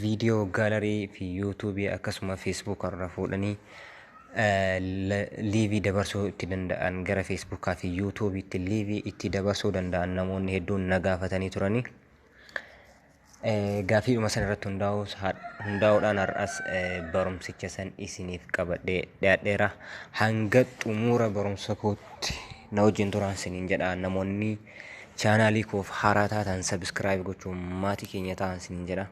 Viidiyoo gaalarii fi yuutuubii akkasuma feesbuuka irra fuudhanii liivii dabarsuu itti danda'an gara feesbuukaa fi yuutuubiitti liivii itti dabarsuu danda'an namoonni hedduun na gaafatanii turanii. Gaafiidhuma san irratti hundaa'uudhaan har'as barumsicha san isiniif qabadhee dhiyaadheera. Hanga xumura barumsa kootti na wajjin turaan isiniin jedha namoonni Chaanaalii koof haaraa taatan sabiskiraayib gochuun maatii keenya ta'an sin jedha.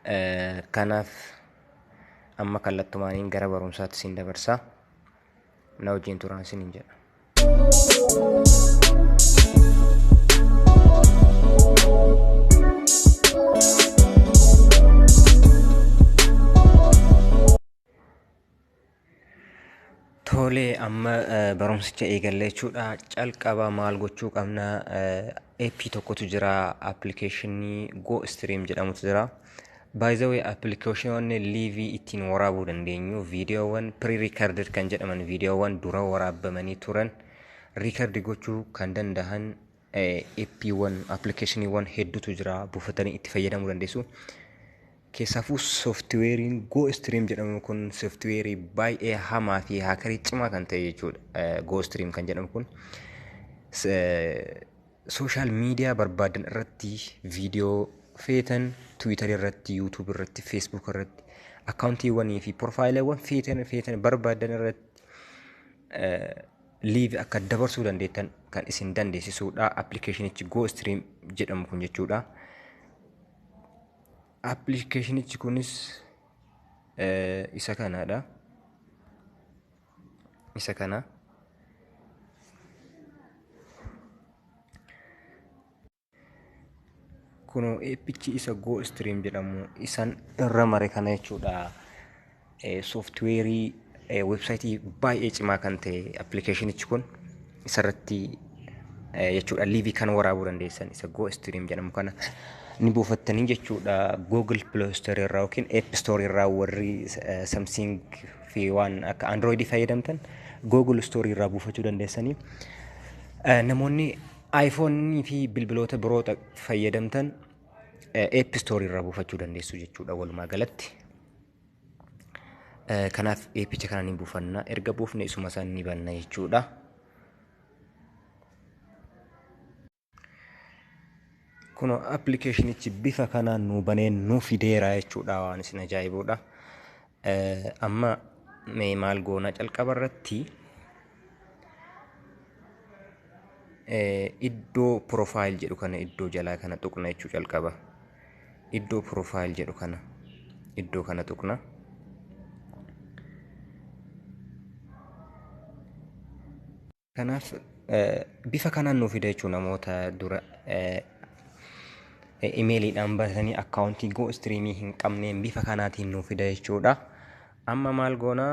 Eh, Kanaaf amma kallattumaaniin gara barumsaatti sin dabarsa. Na wajjin turaan sin jedha. Tole amma barumsicha eegalla jechuudha. Calqaba maal gochuu qabna? Eeppii tokkotu jira appilikeeshinii Go Stream jedhamutu jira. Baay'izawee appilikeeshinoonni liivii ittiin waraabuu dandeenyu viidiyoowwan pre-recorded kan jedhaman viidiyoowwan dura waraabamanii turan riikardi gochuu kan danda'an Eppiiwwan, appilikeeshiniiwwan hedduutu jira buufatanii itti fayyadamuu dandeessu. Keessaafuu sooftiweeriin Go Stream jedhamu kun sooftiweerii baay'ee hamaa fi haakarii cimaa kan ta'e jechuudha. Go Stream kan jedhamu kun sooshaal miidiyaa barbaadan irratti viidiyoo feetan tiwiitarii irratti, yuutuub irratti, feesbuuk irratti akkaawuntiiwwanii fi pirofaayileewwan feetan feetan barbaadan irratti live akka dabarsuu dandeettan kan isin dandeessisuudha appilikeeshinichi go stream jedhamu kun jechuudha appilikeeshinichi kunis eh, isa kanaadha isa kana kunoo eeppichi isa go stream jedhamu isan irra mare kana jechuudha sooftiweerii weebsaayitii baay'ee cimaa kan ta'e appilikeeshinichi kun isarratti jechuudha liivii kan waraabuu dandeessan isa go stream jedhamu kana ni buufattanii jechuudha google play store irraa yookiin app store irraa warri samsung fi waan akka android fayyadamtan google store irraa buufachuu dandeessanii namoonni iPhone fi bilbiloota biroo ta- fayyadamtan eh, App Store irraa buufachuu dandeessu jechuudha walumaa galatti. Eh, Kanaaf eeppicha kana ni buufanna. Erga buufne isuma san ni banna jechuudha. Kunoo appilikeeshinichi bifa kanaan nuu banee nuu fideera jechuudha waan isin ajaa'ibuudha. Amma mee maal goona calqaba irratti iddoo profile jedhu kana iddoo jalaa kana tuqna jechuu calqaba. Iddoo profile jedhu kana iddoo kana tuqna. Kanaaf bifa kanaan nuuf fida jechuun namoota dura imeeliidhaan baratanii akkaawuntii goo istiriimii hin qabneen bifa kanaatiin nuuf fida jechuudha. Amma maal goona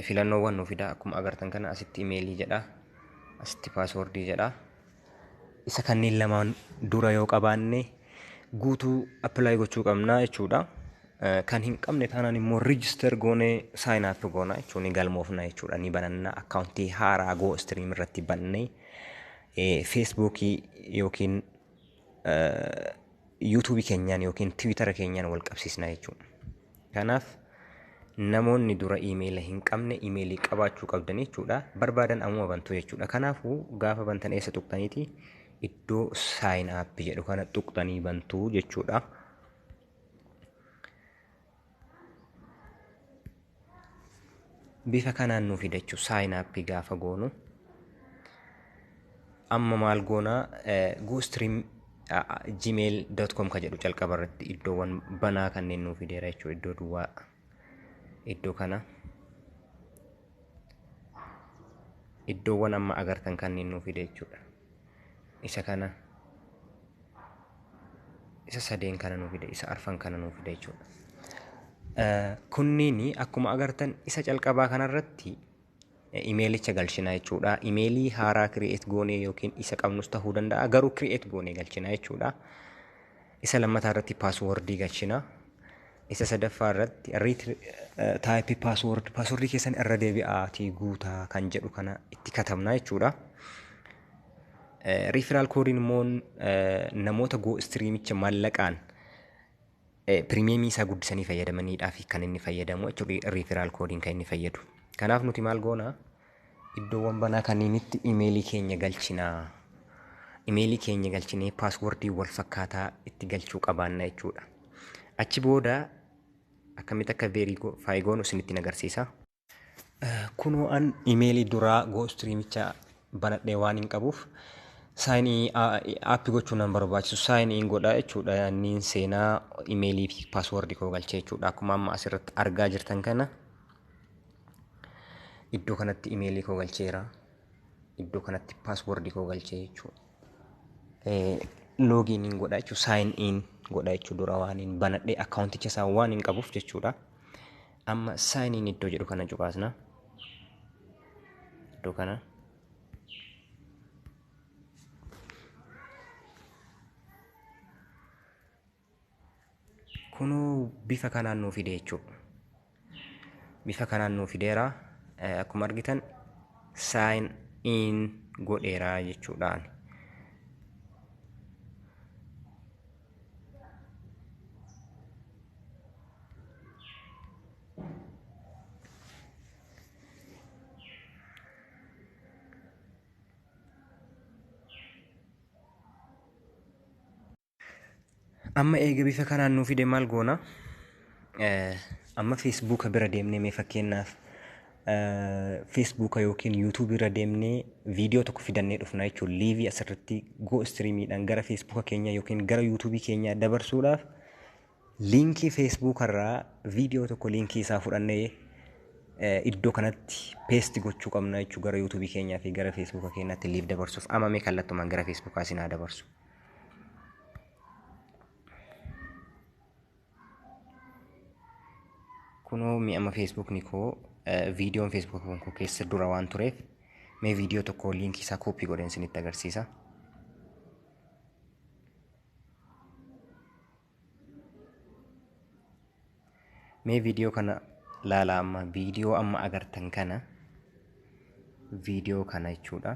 filannoowwan nuuf fida akkuma agartan kana asitti imeelii jedha asitti paaswoordii jedha. Isa kanneen lamaan dura yoo qabaanne guutuu apply gochuu qabna jechuudha. Eh, Kan hin qabne taanaan immoo register goonee sign up goona jechuun ni galmoofna jechuudha. Ni bananna akkaawuntii haaraa Go Stream irratti bannee eh, Facebookii yookiin yuutuubii keenyaan yookiin tiwiitara keenyaan wal qabsiisna jechuudha. Kanaaf namoonni dura iimeela hin qabne iimeelii qabaachuu qabdan jechuudha. Barbaadan ammuma bantu jechuudha. Kanaafuu gaafa bantan eessa tuqxaniiti iddoo saayin aappi jedhu kana tuqxanii bantu jechuudha. bifa kanaan nu fida jechuudha sign up gaafa goonu amma maal goona goostream gmail.com ka jedhu calqaba irratti iddoowwan banaa kanneen nu fideera jechuudha iddoo duwwaa iddoo kana iddoowwan amma agartan kanneen nu fide jechuudha isa kana isa sadeen kana nuu fida isa arfan kana nuu fida jechuudha. Kunniin akkuma agartan isa calqabaa kanarratti imeelicha galchina jechuudha. Imeelii haaraa kireet goonee yookiin isa qabnus ta'uu danda'a garuu kireet goonee galchina jechuudha. Isa lammataa irratti paaswoordii galchina. Isa sadaffaa irratti riit taayippii paaswoord paaswoordii keessan irra deebi'aatii guutaa kan jedhu kana itti katabna jechuudha. Riifiraal koodiin immoo namoota goo istiriimicha mallaqaan pirimeemii isaa guddisanii fayyadamaniidhaaf kan inni fayyadamu jechuudha. Riifiraal koodiin kan inni fayyadu. Kanaaf nuti maal goona? Iddoowwan banaa kanniinitti imeelii keenya galchina. Imeelii keenya galchinee paaswordii wal fakkaataa itti galchuu qabaanna jechuudha. Achi booda akkamitti akka verify goonu isinitti hin agarsiisa. Kunoo an imeelii duraa goostiriimicha banadhee waan hin qabuuf sign in app gochuun nan barbaachisu sign in godha jechuudha. Niin seenaa imeelii fi paaswordii koo galchee jechuudha. Akkuma amma asirratti argaa jirtan kana Iddoo kanatti imeelii koo galcheera. Iddoo kanatti paaswoordii koo galchee jechuudha. Loogiin hin godha jechuudha. Saayin in godha jechuudha. Dura waan hin banadhee akkaawunticha isaa waan hin qabuuf jechuudha. Amma saayin in iddoo jedhu kana cuqaasna. Iddoo kana. Kunoo bifa kanaan nuu fide jechuudha. Bifa kanaan nuu fideera. Eh, Akkuma argitan sign in godheera jechuudhaan. Amma eega bifa kanaan nuu fide maal goona? Amma feesbuuka bira deemnee mee fakkeenyaaf feesbuuka yookiin yuutuubii irra deemnee viidiyoo tokko fidannee dhufna jechuun liivii asirratti goo istiriimiidhaan gara feesbuuka keenyaa yookiin gara yuutuubii keenyaa dabarsuudhaaf liinkii feesbuuka irraa viidiyoo tokko liinkii isaa fudhannee iddoo kanatti peesti gochuu qabna jechuun gara yuutuubii keenyaa fi gara feesbuuka keenyaatti liiv dabarsuuf amamee kallattumaan gara feesbuukaa isin haa dabarsu. kunoo mi amma feesbuukni koo viidiyoon feesbuuk koo keessa dura waan tureef mee viidiyoo tokko liinkii isaa kooppii godheen isinitti agarsiisa. Mee viidiyoo kana laalaa amma viidiyoo amma agartan kana viidiyoo kana jechuudha.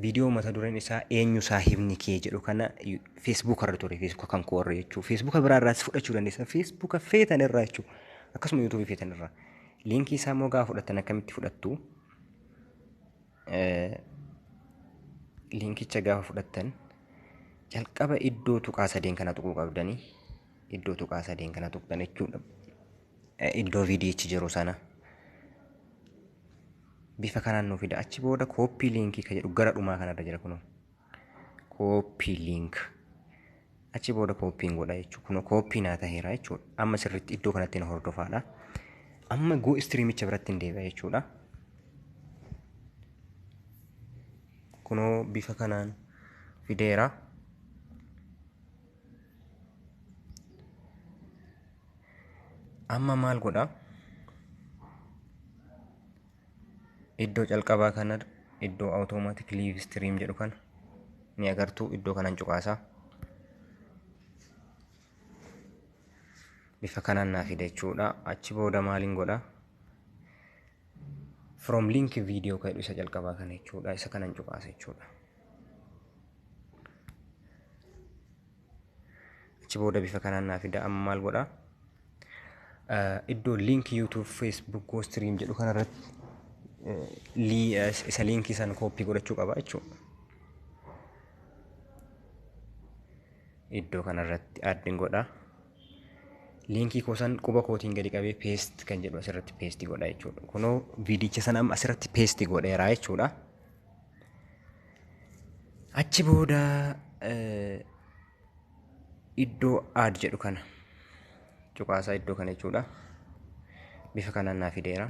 Viidiyoo mata dureen isaa eenyu saahibni kee jedhu kana feesbuuka irra ture feesbuuka kan koo irra jechuu feesbuuka biraa irraas fudhachuu dandeessan feesbuuka feetan irraa jechuu akkasuma yuutuubii feetan irraa liinkii isaa immoo gaafa fudhattan akkamitti fudhattu liinkicha gaafa fudhattan jalqaba iddoo tuqaa sadeen kana tuquu qabdanii iddoo tuqaa sadeen kana tuqxan jechuudha. iddoo VDH jiru sana bifa kanaan nu fida achi booda kooppii liinkii kan jedhu gara dhumaa kanarra jira kunoo kooppii liink achi booda kooppiin godha jechuudha kunoo kooppii naa taheera jechuudha amma sirriitti iddoo kanatti na hordofaadha amma goo istiriimicha biratti hin deebi'a jechuudha kunoo bifa kanaan fideera Amma maal godha? Iddoo calqabaa kana iddoo automatic live stream jedhu kana ni agartu iddoo kanan cuqaasa. Bifa kanaan naa fida jechuudha. Achi booda maaliin godha? From link video ka jedhu isa calqabaa kana jechuudha. Isa kanan cuqaasa jechuudha. achi booda bifa kanaan naa fida amma maal godha iddoo link youtube facebook go stream jedhu kanarratti isa liinkii san kooppii godhachuu qaba jechuudha. Iddoo kanarratti addin godha. Liinkii koo san quba kootiin gadi qabee paste kan jedhu asirratti paste godha jechuudha. Kunoo viidicha sana amma asirratti paste godheera jechuudha. Achi booda iddoo aad jedhu kana cuqaasaa iddoo kana jechuudha. Bifa kanaan naa fideera.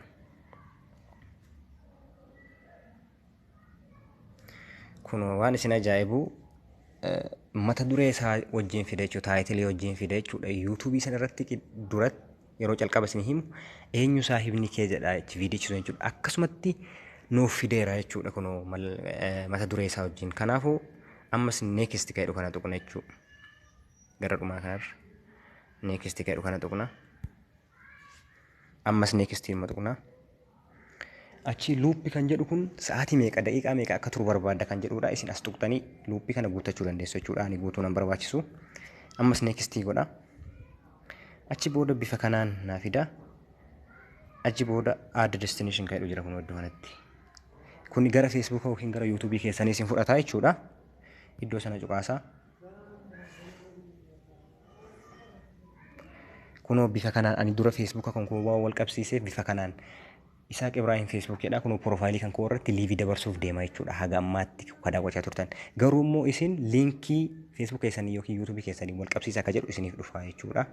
Kun waan isin ajaa'ibu mata duree isaa wajjin fide jechuudha. Taayitilii wajjin fide jechuudha. Yuutuubii sana irratti duratti yeroo calqaba isin himu eenyu saahibni kee jedha itti viidichisu jechuudha. Akkasumatti nuuf fideera jechuudha kunoo mata duree isaa wajjin. Kanaafuu ammas neekist ka'edhu kana tuqna jechuudha. Gara dhumaa kanarra neekist ka'edhu kana tuqna. Ammas neekist immoo tuqna. Achii luuppi kan jedhu kun sa'aatii meeqa daqiiqaa meeqa akka turu barbaadda kan jedhudha. Isin as tuqxanii luuppii kana guuttachuu dandeessu jechuudha. Ani guutuu nan barbaachisu. Ammas neekistii godha. Achi booda bifa kanaan naa fida. Achi booda add destination kan jedhu jira kun iddoo kanatti. Kun gara Facebook yookiin gara YouTube keessanii isin fudhata jechuudha. Iddoo sana cuqaasaa. kunoo bifa kanaan ani dura feesbuuka kan koo waan wal qabsiisee bifa kanaan Isaaq Ibrahim Facebook jedha kunoo piroofaayilii kan koo irratti liivii dabarsuuf deema jechuudha haga ammaatti kan daawwachaa turtan garuu immoo isin liinkii Facebook keessanii yookiin YouTube keessanii wal qabsiisa akka jedhu isiniif dhufa jechuudha.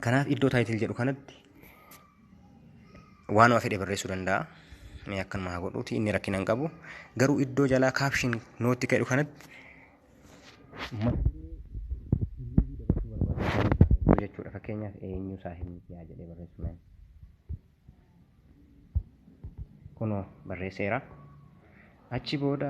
Kanaaf iddoo title jedhu kanatti waanuma fedhe barreessuu danda'a. Mee akkanuma haa godhuuti inni rakkina hin qabu. Garuu iddoo jalaa caption nootti jedhu kanatti jechuudha fakkeenyaaf eenyu isaa hin yaa jedhee barreessu mee. Kunoo barreesseera. Achi booda